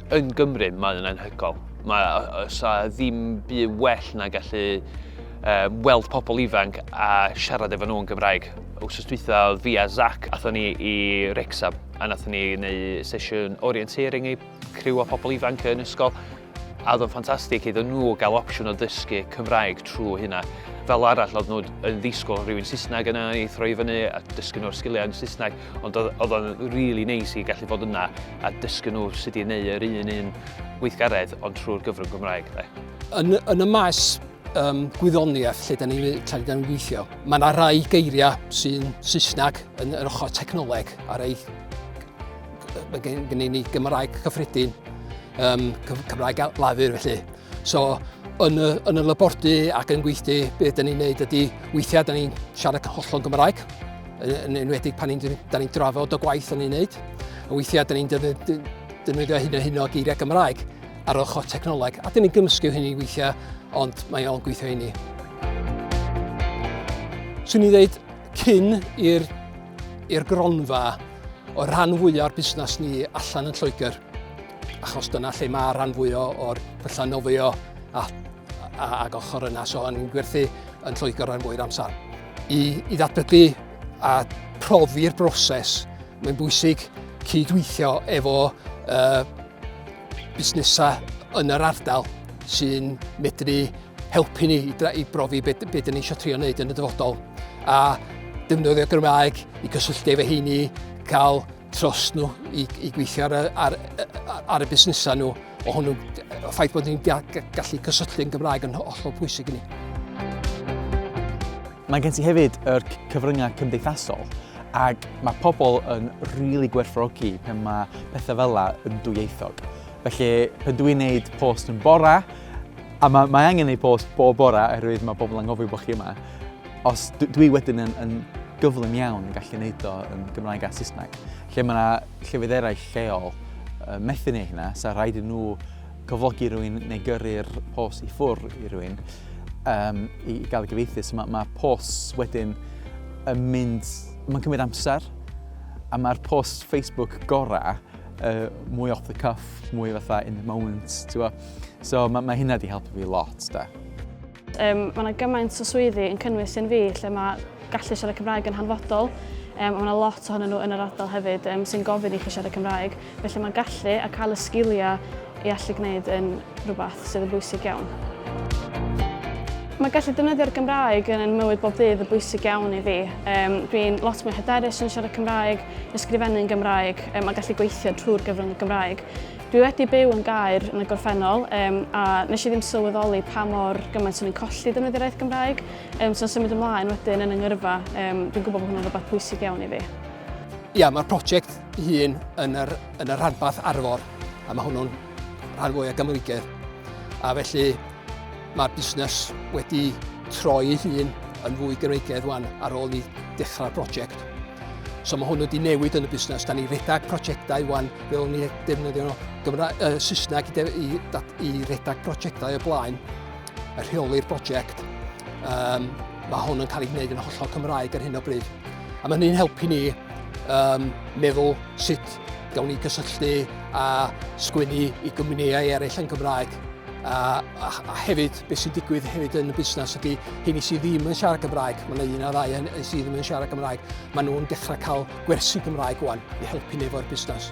Yn Gymru, mae o'n anhygoel. Mae, os a ddim bu well na gallu um, weld pobl ifanc a siarad efo nhw yn Gymraeg. Wrth dwytha oedd fi a Zach, athon ni i Rexham, a nathon ni wneud sesiwn orienteering i criw o pobl ifanc yn ysgol, a oedd o'n ffantastig iddyn nhw gael opsiwn o ddysgu Cymraeg trwy hynna. Fel arall, oedd nhw'n ddisgwyl rhywun Saesneg yna i throi fyny a dysgu nhw'r sgiliau yn Saesneg. Ond oedd o'n really neis i gallu bod yna a dysgu nhw sut i wneud yr un un gweithgaredd ond trwy'r gyfrwng Gymraeg. Yn, yn y maes um, gwyddoniaeth lle da ni'n lle da ni weithio, mae yna rai geiriau sy'n Saesneg yn yr ochr technoleg a rai mae gen, gen i ni Gymraeg cyffredin, um, Cymraeg lafur felly. So, yn y, yn y labordy ac yn gweithdy, be dyn ni'n neud ydy, weithiau dyn ni'n siarad hollol Gymraeg, yn enwedig pan ni'n ni drafod o gwaith o'n ni'n neud. A weithiau dyn ni'n defnyddio hyn o hyn o geiriau Gymraeg ar ochr technoleg, a dyn ni'n gymysgu hynny weithiau, ond mae o'n gweithio i ni. Swn i'n dweud cyn i'r i'r gronfa o rhan fwyaf o'r busnes ni allan yn Lloegr. achos dyna lle mae rhan fwy o'r pyllau nofio a, a, ag ochr yna, so yn gwerthu yn Lloegr rhan fwy'r amser. I, i ddatblygu a profi'r broses, mae'n bwysig cydweithio efo uh, busnesau yn yr ardal sy'n medru helpu ni i, i brofi beth, beth ni eisiau trio wneud yn y dyfodol. A defnyddio Gymraeg i gysylltu efo heini, cael tros nhw i, i gweithio ar, ar, ar y busnesau nhw o hwnnw, o ffaith bod ni'n gallu cysylltu yn Gymraeg yn hollol pwysig i ni. Mae gen ti hefyd yr cyfryngau cymdeithasol ac mae pobl yn rili really gwerthfawrogi pan mae pethau fel yna yn dwyieithog. Felly, pan dwi'n gwneud post yn bora, a mae, mae angen gwneud post bob bora oherwydd mae pobl yn gofio bod chi yma, Os dwi wedyn yn, yn gyflym iawn yn gallu gwneud o yn Gymraeg a Saesneg. Lle mae yna llefydd eraill lleol uh, methu neu hynna, sa rhaid i nhw cyflogi rhywun neu gyrru'r pos i ffwr i rhywun um, i, i gael y gyfeithi. So mae, mae pos wedyn yn mynd, mae'n cymryd amser, a mae'r pos Facebook gorau uh, mwy off the cuff, mwy fatha in the moment, ti'n So mae, mae hynna wedi helpu fi lot, da. Um, mae yna gymaint o swyddi yn cynnwys yn fi lle mae gallu siarad Cymraeg yn hanfodol um, mae yna lot ohonyn nhw yn yr ardal hefyd um, sy'n gofyn i chi siarad Cymraeg felly mae gallu a cael y sgiliau i allu gwneud yn rhywbeth sydd yn bwysig iawn. Mae gallu defnyddio'r Gymraeg yn ein mywyd bob dydd yn bwysig iawn i fi. Um, Dwi'n lot mwy hyderus yn siarad Cymraeg, ysgrifennu'n Gymraeg um, a gallu gweithio trwy'r gyfrwng y Gymraeg. Dwi wedi byw yn Gaer yn y gorffennol um, a nes i ddim sylweddoli pa mor gymaint o'n i'n colli defnyddio'r iaith Gymraeg. Um, so'n symud ymlaen wedyn yn yngyrfa, um, dwi'n gwybod bod hwnna'n rhywbeth pwysig iawn i fi. Ia, mae'r prosiect hun yn yr, yn yr rhanbarth arfor, a mae hwnnw'n rhan fwy o Gymreigedd. A felly mae'r busnes wedi troi ei hun yn fwy Gymreigedd wan ar ôl i dechrau'r prosiect. So mae hwnnw wedi newid yn y busnes. Da ni redag prosiectau wan fel ni defnyddio nhw. Gymra uh, Saesneg i, i, i redag prosiectau y blaen, y rheoli'r prosiect. Um, mae hwn yn cael ei wneud yn hollol Cymraeg ar hyn o bryd. A mae hynny'n helpu ni um, meddwl sut gawn ni gysylltu a sgwennu i gwmnïau eraill yn Gymraeg. A, a, a hefyd, beth sy'n digwydd hefyd yn y busnes ydy, hyn i sydd ddim yn siarad Gymraeg, mae yna un a ddau sydd ddim yn siarad Gymraeg, maen nhw'n dechrau cael gwersi Gymraeg wan i helpu ni efo'r busnes.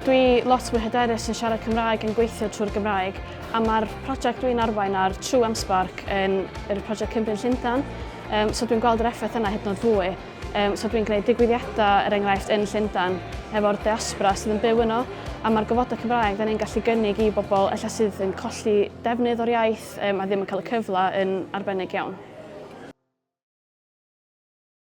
Dwi lot mwy hyderus yn siarad Cymraeg yn gweithio trwy'r Gymraeg a mae'r prosiect dwi'n arwain ar True am Spark yn yr prosiect Cymru Llundain um, so dwi'n gweld yr effaith yna hyd yn oed fwy. Um, so dwi'n gwneud digwyddiadau, er enghraifft, yn Llundain efo'r diaspora sydd yn byw yno a mae'r gofodau Cymraeg dda ni'n gallu gynnig i bobl efallai sydd yn colli defnydd o'r iaith um, a ddim yn cael y cyfle yn arbennig iawn.